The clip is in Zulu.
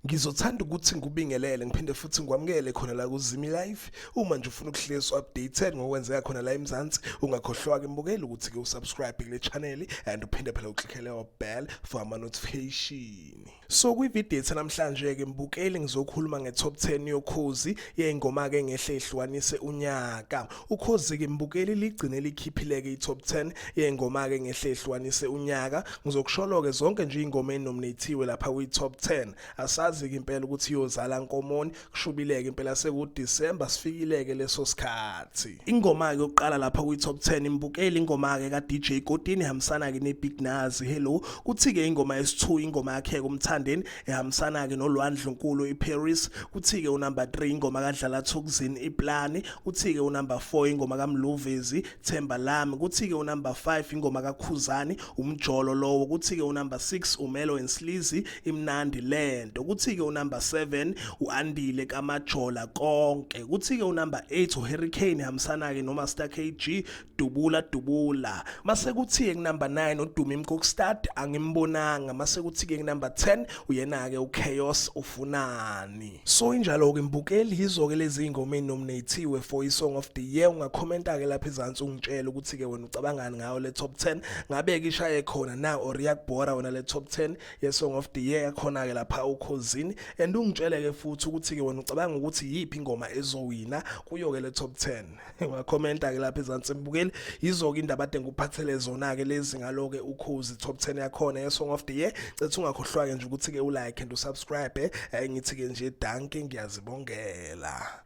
ngizothanda ukuthi ngikubingelele ngiphinde futhi ngikwamukele khona la kuzimi live uma nje ufuna ukuhlezi updated ngokwenzeka khona la eMzansi ungakhohlwa ke mbukeli ukuthi ke usubscribe kule channel and uphinde phela uclickele wa bell for ama notification So kwividiyo ethe namhlanje-ke mbukeli ngizokhuluma nge-top 10 yokhozi yey'ngoma-ke engehle ihlukanise unyaka ukhozi-ke mbukeli ligcine likhiphile-ke i-top 10 yey'ngoma-ke engehle ihlukanise unyaka ngizokusholo-ke zonke nje iy'ngoma ey'nominathiwe lapha kwi-top 10 asazi-ke impela ukuthi iyozala nkomoni kushubileke impela seku December sifikileke leso sikhathi ingoma ke yokuqala lapha kwi top 10 imbukeli ingoma ke ka DJ Kotini hamsana ke ne Big Nazi hello kuthi ke ingoma yesithu ingoma yakhe kumthandeni ehambisana ke nolwandle nkulu iParis kuthi ke unumber 3 ingoma kadlala Thukuzini iPlani kuthi ke unumber 4 ingoma kaMluvezi Themba lami kuthi-ke unumber 5 ingoma kaKhuzani umjolo lowo kuthi-ke unumber 6 umelo and slizi imnandi lento kuthi-ke unumber 7 u-andile kamajola konke kuthi-ke unumber 8 uhurricane hambisana-ke nomaster kg dubula dubula mase kuthi-ke kunumber 9 uduma imkokstad angimbonanga mase kuthi-ke kunumber 10 uyena-ke uchaos ufunani So injalo ke mbukeli yizo ke lezi ingoma enominatiwe for i song of the year ungakhomenta ke lapha ezantsi ungitshela ukuthi ke wena ucabangani ngayo le top 10 ngabe ke ishaye khona na or yakubhora wena le top 10 ye song of the year yakhona ke lapha ukhozini and ungitshele ke futhi ukuthi ke wena ucabanga ukuthi yipi ingoma ezowina kuyo ke le top 10 ngakhomenta ke lapha ezansi mbukeli yizoke indaba ade ngikuphathele zona ke lezi ngalo ke ukhozi top 10 yakhona ye song of the year cethu ungakhohlwa ke nje ukuthi ke ulike and usubscribe eh ngithi ke nje danke ngiyazibongela